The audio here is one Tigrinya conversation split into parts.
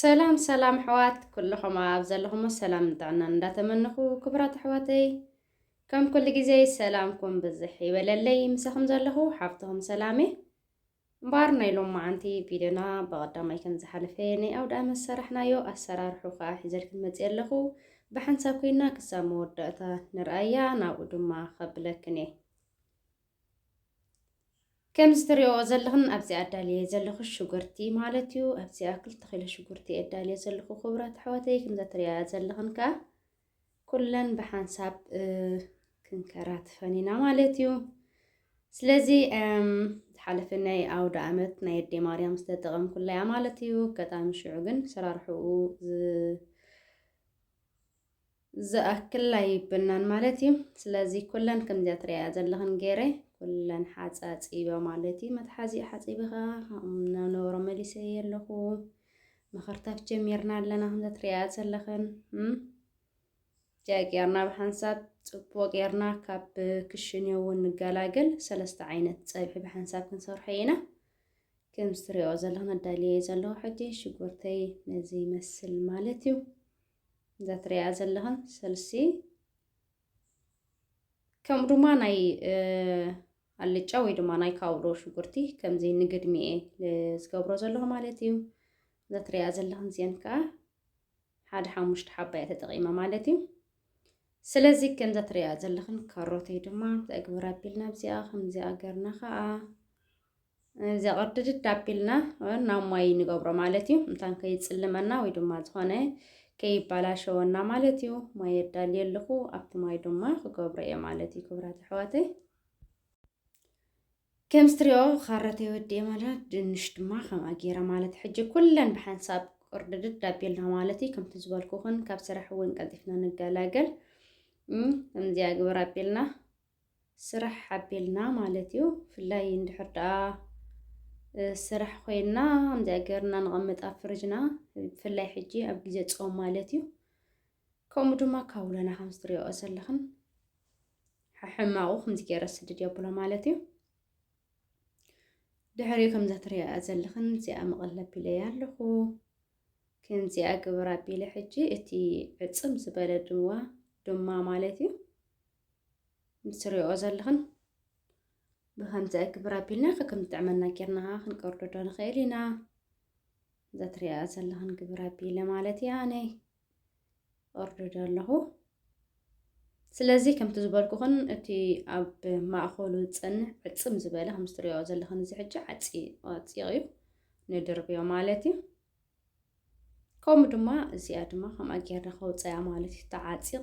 ሰላም ሰላም ኣሕዋት ኩልኹም ኣብ ዘለኹሞ ሰላም ጥዕናን እንዳተመነኹ ክብራት ኣሕዋተይ ከም ኩሉ ግዜ ሰላምኩም ብዝሕ ይበለለይ ምሳኹም ዘለኹ ሓፍትኹም ሰላም እየ እምበኣር ናይ ሎም መዓንቲ ቪድዮና ብቐዳማይ ከም ዝሓለፈ ናይ ኣውደ ኣመት ሰራሕናዮ ኣሰራርሑ ከዓ ሒዘልክን መፅእ ኣለኹ ብሓንሳብ ኮይና ክሳብ መወዳእታ ንርኣያ ናብኡ ድማ ከብለክን እየ ከምዚ ትሪኦ ዘለኽን ኣብዚ ኣዳልየ ዘለኹ ሽጉርቲ ማለት እዩ። ኣብዚኣ ክልተ ኪሎ ሽጉርቲ እየ ኣዳልየ ዘለኹ ክቡራት ኣሕዋተይ። ከምዛ ትሪኣ ዘለኽን ከዓ ኩለን ብሓንሳብ ክንከራትፈን ኢና ማለት እዩ። ስለዚ ዝሓለፈ ናይ ኣውደ ዓመት ናይ ኣዴ ማርያም ዝተጠቐምኩላ እያ ማለት እዩ። ኣጋጣሚ ሽዑ ግን ሰራርሕኡ ዝኣክል ኣይብናን ማለት እዩ። ስለዚ ኩለን ከምዚኣ ትሪኣያ ዘለኽን ገይረ ኩለን ሓፃፂበ ማለት እዩ። መትሓዚ ሓፂቢ ከዓ ናብነበሮ መሊሰ የለኹ መኸርታፍ ጀሚርና ኣለና ከምዛ ትሪኣያ ዘለኽን ጃቂ ጌርና ብሓንሳብ ፅቡቕ ጌርና ካብ ክሽን እውን ንገላገል ሰለስተ ዓይነት ፀብሒ ብሓንሳብ ክንሰርሖ ኢና። ከም ዝትሪኦ ዘለኹን ኣዳልየ ዘለኹ ሕጂ ሽጉርተይ ነዚ ይመስል ማለት እዩ። እዛ ትሪኣ ዘለኽን ስልሲ ከምኡ ድማ ናይ ኣልጫ ወይ ድማ ናይ ካውሎ ሽጉርቲ ከምዚ ንግድሚ እየ ዝገብሮ ዘለኹ ማለት እዩ እዛ ትሪኣ ዘለኽን እዚአን ከዓ ሓደ ሓሙሽተ ሓባ እየ ተጠቂመ ማለት እዩ ስለዚ ከምዛ ትሪኣ ዘለኽን ካሮተይ ድማ ተግብር ኣቢልና ኣብዚኣ ከምዚኣ ገርና ከዓ እዚኣ ቅርድድድ ኣቢልና ናብ ማይ ንገብሮ ማለት እዩ እንታን ከይፅልመና ወይ ድማ ዝኾነ ከይባላሸወና ማለት እዩ ማይ የዳልየ ኣለኹ ኣብቲ ማይ ድማ ክገብሮ እየ ማለት እዩ ክብራት ኣሕዋተይ ከም ስትሪኦ ካረተይ ወዲኤ ማለት ድንሽ ድማ ከምኣ ገይረ ማለት ሕጂ ኩለን ብሓንሳብ ቅርድድድ ኣቢልና ማለት እዩ ከምቲ ዝበልኩኹን ካብ ስራሕ እውን ቀልጢፍና ንገላገል ከምዚኣ ግብር ኣቢልና ስራሕ ሓቢልና ማለት እዩ ብፍላይ እንድሕር ደኣ ስራሕ ኮይና ከምዚኣ ገርና ንቐምጥ ኣብ ፍርጅና ብፍላይ ሕጂ ኣብ ግዜ ጾም ማለት እዩ ከምኡ ድማ ካውሎና ከምዚ ትሪኦ ዘለኽን ሕማቑ ከምዚ ገይረ ስድድ የብሎ ማለት እዩ ድሕሪ ከምዛ ትሪኣ ዘለኽን እዚኣ መቐለብ ቢለይ ኣለኹ ከምዚኣ ግብር ኣቢለ ሕጂ እቲ ዕፅም ዝበለ ድዋ ድማ ማለት እዩ ንስሪኦ ዘለኽን ብከምዚ ኣግብር ኣቢልና ከከም ዝጥዕመና ጌርና ከዓ ክንቀርዶ ዶ ንኽእል ኢና እዛ ትሪኣ ዘለኽን ግብር ኣቢለ ማለት እያ ኣነ ቀርዶ ዶ ኣለኹ ስለዚ ከምቲ ዝበልኩኽን እቲ ኣብ ማእኸሉ ዝፀንሕ ዕፅም ዝበለ ከም ዝትሪኦ ዘለኽን እዚ ሕጂ ዓፂቕ እዩ ንድርብዮ ማለት እዩ ከምኡ ድማ እዚኣ ድማ ከምኣ ጌርና ከውፀያ ማለት እዩ ተዓፂቕ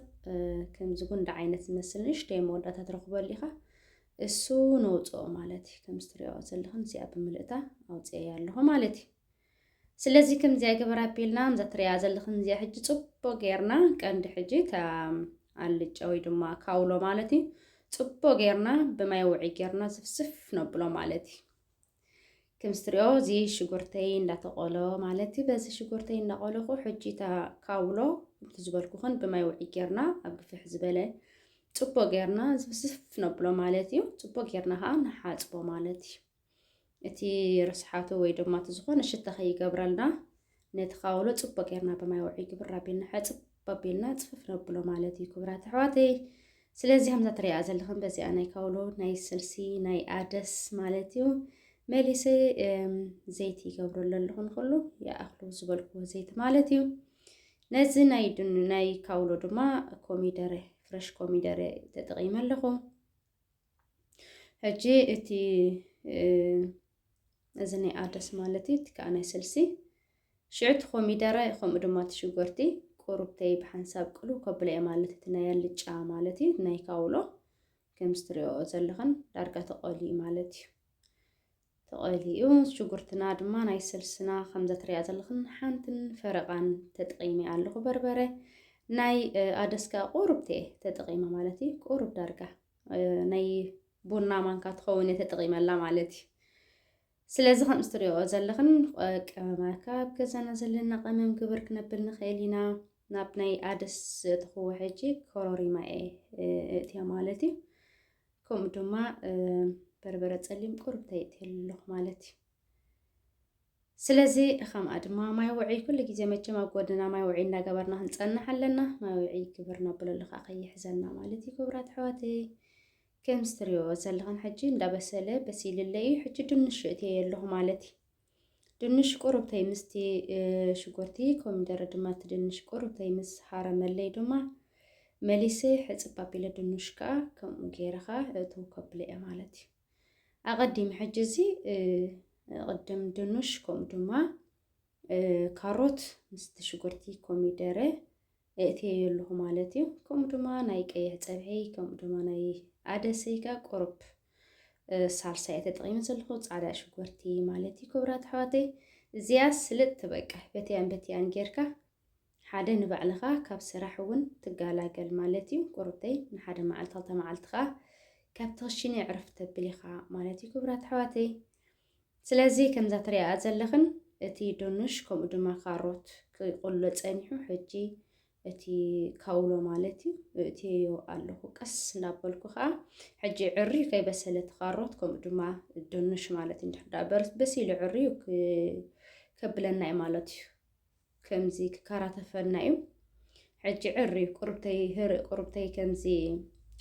ከምዚ ጉንዲ ዓይነት ዝመስል ንእሽተይ መወዳእታ ትረኽበሉ ኢኻ እሱ ነውፅኦ ማለት እዩ ከም ዝትሪኦ ዘለኹም እዚኣ ብምልእታ ኣውፅኤ ኣለኹ ማለት እዩ ስለዚ ከምዚኣ ገበር ኣቢልና እዛ ትሪኣ ዘለኹም እዚኣ ሕጂ ፅቡቅ ጌርና ቀንዲ ሕጂ እታ ኣልጫ ወይ ድማ ካውሎ ማለት እዩ ፅቡቅ ጌርና ብማይ ውዒ ጌርና ዝፍስፍ ነብሎ ማለት እዩ ከምዚ ትሪኦ እዚ ሽጉርተይ እንዳተቆሎ ማለት እዩ በዚ ሽጉርተይ እንዳቆለኹ ሕጂ እታ ካውሎ ከምቲ ዝበልኩኽን ብማይ ውዒ ጌርና ኣብ ግፍሕ ዝበለ ፅቦ ጌርና ዝብስፍ ነብሎ ማለት እዩ ፅቦ ጌርና ከዓ ንሓፅቦ ማለት እዩ እቲ ርስሓቱ ወይ ድማ እቲ ዝኾነ ሽታ ከይገብረልና ነቲ ካውሎ ጽቡቅ ጌርና ብማይ ውዑይ ግብር ኣቢልና ሕጽብ ኣቢልና ጽፍፍ ነብሎ ማለት እዩ ክብራት ኣሕዋተይ ስለዚ ከምዛ ትሪኣ ዘለኽን በዚኣ ናይ ካውሎ ናይ ስልሲ ናይ ኣደስ ማለት እዩ መሊሰ ዘይቲ ይገብረሉ ኣለኹ ንክሉ ይኣኽሉ ዝበልኩ ዘይቲ ማለት እዩ ነዚ ናይ ናይ ካውሎ ድማ ኮሚደረ ፍረሽ ኮሚደረ ተጠቒመ ኣለኹ ሕጂ እቲ እዚ ናይ ኣደስ ማለት እዩ እቲ ከኣ ናይ ስልሲ ሽዑ እቲ ኮሚደረ ከምኡ ድማ እቲ ሽጎርቲ ቁሩብተይ ብሓንሳብ ቅልው ከብሎ እየ ማለት እቲ ናይ ኣልጫ ማለት እዩ ናይ ካውሎ ከምዚ ትሪኦኦ ዘለኽን ዳርጋ ተቆልዩ ማለት እዩ ተቆልዩ ሽጉርትና ድማ ናይ ስልስና ከምዛ ትሪኣ ዘለኽን ሓንትን ፈረቃን ተጠቂመ ኣለኹ በርበረ ናይ ኣደስካ ቁሩብተይ ተጠቂመ ማለት እዩ ቁሩብ ዳርጋ ናይ ቡና ማንካ ትኸውን እየ ተጠቒመላ ማለት እዩ ስለዚ ከም ዝትሪኦ ዘለኽን ቀመማካ ኣብ ገዛና ዘለና ቀመም ግብር ክነብል ንኽእል ኢና ናብ ናይ ኣደስ ትኽዎ ሕጂ ኮሮሪማ እየ እእትያ ማለት እዩ ከምኡ ድማ በርበረ ፀሊም ቁርብ ተይእትየ ኣለኹ ማለት እዩ ስለዚ ኸምኣ ድማ ማይ ውዕይ ኩሉ ግዜ መቸም ኣብ ጎድንና ማይ ውዕይ እንዳገበርና ክንጸንሕ ኣለና። ማይ ውዕይ ክብር ነብለሉ ከኣ ከይሕዘና ማለት እዩ ክብራት ኣሕዋተይ። ከም ዝትሪኦ ዘለኽን ሕጂ እንዳበሰለ በሲልለ እዩ ሕጂ ድንሽ እትየ ኣለኹ ማለት እዩ ድንሽ ቁሩብተይ ምስቲ ሽጉርቲ ኮሚደረ ድማ እቲ ድንሽ ቁሩብተይ ምስ ሃረመለይ ድማ መሊሰ ሕፅብ ኣቢለ ድንሽ ከዓ ከምኡ ገይርኻ እትው ከብለ እየ ማለት እዩ ኣቐዲም ሕጂ እዚ ቅድም ድኑሽ ከምኡ ድማ ካሮት ምስቲ ሽጉርቲ ኮሚደረ እእትየዮ ኣለኹ ማለት እዩ ከምኡ ድማ ናይ ቀይሕ ፀብሒ ከምኡ ድማ ናይ ኣደሰይካ ቁርብ ሳልሳ እየ ተጠቂመ ዘለኹ ፃዕዳ ሽጉርቲ ማለት እዩ ክብራት ኣሕዋተይ እዚያ ስልጥ ትበቃ በትያን በትያን ጌርካ ሓደ ንባዕልኻ ካብ ስራሕ እውን ትጋላገል ማለት እዩ ቁሩብተይ ንሓደ መዓልቲ ክልተ መዓልቲ ከዓ ካብቲ ክሽነ ዕርፍ ተብል ኢኻ ማለት እዩ ክብራት ኣሕዋተይ ስለዚ ከምዛ ትሪኣኣ ዘለኽን እቲ ዶኑሽ ከምኡ ድማ ካሮት ክቁሎ ፀኒሑ ሕጂ እቲ ካውሎ ማለት እዩ እእትየዮ ኣለኹ ቀስ እናበልኩ ከዓ ሕጂ ዕሪ ከይበሰለ ትኻሮት ከምኡ ድማ ድንሽ ማለት እንድሕዳ በሲሉ ዕርዩ ከብለና እዩ ማለት እዩ ከምዚ ክከራተፈና እዩ ሕጂ ዕር እዩ ቁርብተይ ህርእ ቁርብተይ ከምዚ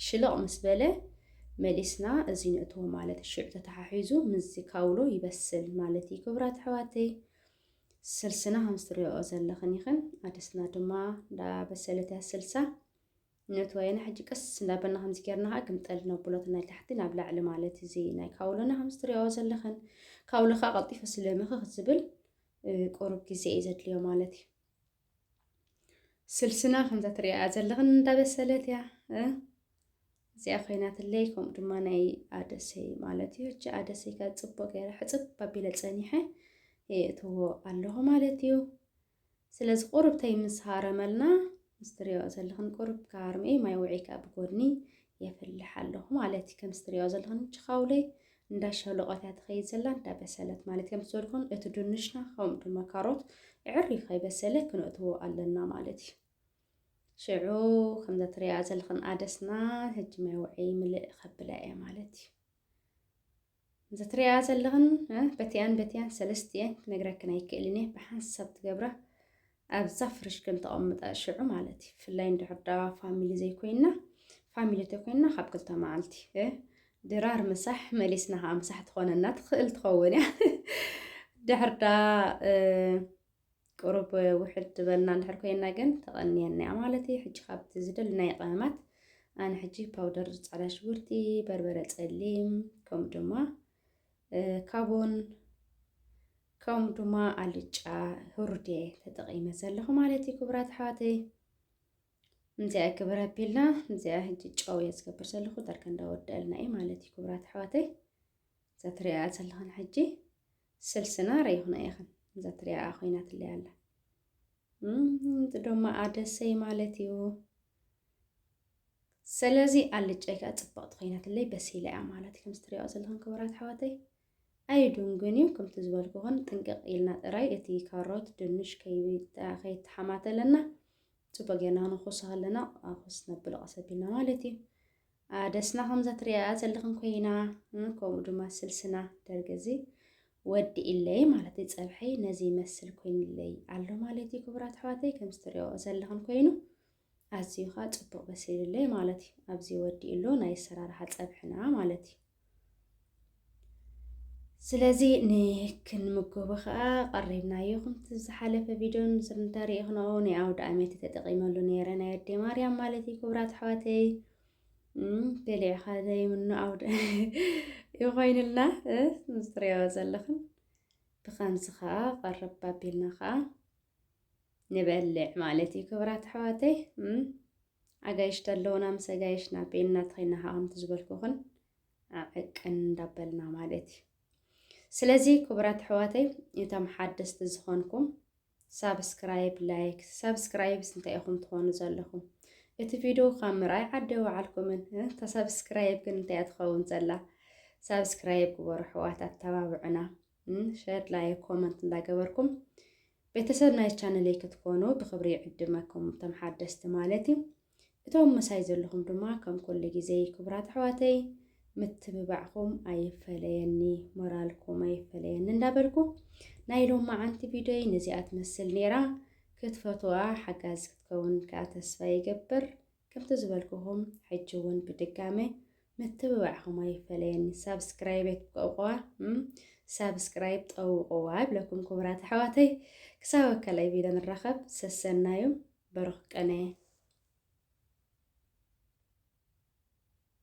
ሽልቕ ምስ በለ መሊስና እዚ ንእትዎ ማለት እዩ ሽዑ ተተሓሒዙ ምስዚ ካውሎ ይበስል ማለት እዩ ክብራት ኣሕዋተይ ስልስና ከምዝትሪኦ ዘለኽን ይኽን ኣደስና ድማ እንዳበሰለት እያ ስልሳ ነቲ ወያነ ሕጂ ቀስ እንዳበልና ከምዚ ጌርና ከኣ ግምጠል ነብሎ እቲ ናይ ታሕቲ ናብ ላዕሊ ማለት እዚ ናይ ካውሎና ከምዚ ትሪኣኦ ዘለኽን ካውሎ ከኣ ቀልጢፉ ስለ ምኽኽ ዝብል ቁሩብ ግዜ እዩ ዘድልዮ ማለት እዩ ስልስና ከምዛ ትሪኣያ ዘለኽን እንዳበሰለት እያ እዚኣ ኮይናትለይ ከምኡ ድማ ናይ ኣደሰይ ማለት እዩ ሕጂ ኣደሰይ ከ ጽቡቅ ገይረ ሕጽብ ኣቢለ ጸኒሐ የእትዎ ኣለኹ ማለት እዩ ስለዚ ቁርብተይ ምስ ሃረመልና ምስ ትሪእኦ ዘለኽን ቁርብ ክሃርም እየ ማይ ውዕይ ከኣ ብጎድኒ የፍልሕ ኣለኹ ማለት እዩ ከምስ ትሪእኦ ዘለኽን ችኻውለይ እንዳ ሸሎቆት እያ ትኸይድ ዘላ እንዳ በሰለት ማለት ከምስ ዝበልኩን እቲ ድንሽና ከምኡ ድማ ካሮት ዕሪ ከይበሰለ ክንእትዎ ኣለና ማለት እዩ ሽዑ ከምዛ ትሪኣ ዘለኽን ኣደስና ሕጂ ማይ ውዕይ ምልእ ከብላ እየ ማለት እዩ እንተ ትሪኣያ ዘለኽን በቲኣን በቲኣን ሰለስት እየን ክነግረክን ኣይክእልን እየ ብሓንሳብ ትገብራ ኣብዛ ፍርሽ ከም ተቐምጣ ሽዑ ማለት እዩ ብፍላይ እንድሕር ዳዋ ፋሚሊ ዘይኮይና ፋሚሊ ተኮይና ካብ ክልተ መዓልቲ ድራር ምሳሕ መሊስና ከዓ ምሳሕ ትኾነና ትኽእል ትኸውን እያ ድሕር ዳ ቅሩብ ውሕድ ዝበልና እንድሕር ኮይና ግን ተቐንየና እያ ማለት እዩ። ሕጂ ካብቲ ዝደልናዮ ቀመማት ኣነ ሕጂ ፓውደር ጻዕዳ ሽጉርቲ፣ በርበረ ጸሊም ከምኡ ድማ ካቦን ከምኡ ድማ ኣልጫ ህሩድ እየ ተጠቒመ ዘለኹ ማለት እዩ ክቡራት ኣሕዋተይ። እዚኣ ክብር ኣቢልና እዚኣ ሕጂ ጨው እየ ዝገብር ዘለኹ ዳርጋ እንዳወደአልና እዩ ማለት እዩ ክቡራት ኣሕዋተይ። እዛ ትሪኣ ዘለኹን ሕጂ ስልስና ረይኹና ኢኽን እዛ ትሪኣ ኮይናትለይ ኣላ እቲ ደማ ኣደሰይ ማለት እዩ ስለዚ ኣልጫይ ከዓ ፅብቕቲ ኮይናትለይ በሲላ እያ ማለት ከምዚ ትሪኦ ዘለኹም ክብራት ኣሕዋተይ ኣይዱንግን እዩ ከምቲ ዝበልኩኹን ጥንቅቕ ኢልና ጥራይ እቲ ካሮት ድንሽ ከይተሓማተለና ፅቡቅ ጌርና ክንኹሶ ከለና ኩስ ነብሎ ቀሰቢልና ማለት እዩ ኣደስና ከምዛ ትሪኣያ ዘለኽን ኮይና ከምኡ ድማ ስልስና ደርጊ እዚ ወዲኢለይ ማለት እዩ ፀብሐይ ነዚ ይመስል ኮይኑለይ ኣሎ ማለት እዩ ክቡራት ኣሕዋተይ ከም ዝትሪኦ ዘለኽን ኮይኑ ኣዝዩ ከዓ ፅቡቅ በሲሉለይ ማለት እዩ ኣብዚ ወዲኡሎ ናይ ኣሰራርሓ ፀብሕና ማለት እዩ ስለዚ ንክንምገቦ ከዓ ቀሪብናዮ ከምቲ ዝሓለፈ ቪድዮን ምስል እንተሪኢኽንኦ ናይ ኣውደ ኣመት ተጠቂመሉ ነይረ ናይ ኣዴ ማርያም ማለት እዩ ክብራት ኣሕዋተይ ገሊዕኻ ዘይምኖ ኣውደ ይኮይንልና ምስ ትሪኦ ዘለኽን ብኸምዚ ከዓ ቀረብ ኣቢልና ከዓ ንበልዕ ማለት እዩ ክብራት ኣሕዋተይ ኣጋይሽ ተለዉና ምስ ኣጋይሽና ቤንና ተኸይና ከኣ ከምቲ ዝበልኩኽን ዕቅን እንዳበልና ማለት እዩ። ስለዚ ክቡራት ኣሕዋተይ እቶም ሓደስቲ ዝኾንኩም ሳብስክራይብ ላይክ ሳብስክራይብስ እንታይ ኢኹም ትኾኑ ዘለኹም እቲ ቪድዮ ካብ ምርኣይ ዓደ ወዓልኩምን ተሳብስክራይብ ግን እንታይ እያ ትኸውን ዘላ ሳብስክራይብ ግበሩ ኣሕዋት ኣተባብዑና ሸር ላይ ኮመንት እንዳገበርኩም ቤተሰብ ናይ ቻነለይ ክትኮኑ ብክብሪ ይዕድመኩም እቶም ሓደስቲ ማለት እዩ እቶም ምሳይ ዘለኹም ድማ ከም ኩሉ ግዜ ክቡራት ኣሕዋተይ ምትብባዕኹም ኣይፈለየኒ ሞራልኩም ኣይፈለየኒ እንዳበልኩ ናይ ሎም መዓንቲ ቪድዮይ ነዚኣ ትመስል ነይራ ክትፈትዋ ሓጋዝ ክትከውን ከዓ ተስፋ ይገብር ከምቲ ዝበልኩኹም ሕጂ ውን ብድጋመ ምትብባዕኹም ኣይፈለየኒ ሳብስክራይብ ኣይትብቀቁዋ እም ሳብስክራይብ ጠውቁዋ ይብለኩም ክቡራት ኣሕዋተይ ክሳብ ኣብ ካልኣይ ቪድዮ ንራኸብ ሰሰናዩ በሩኽ ቅነ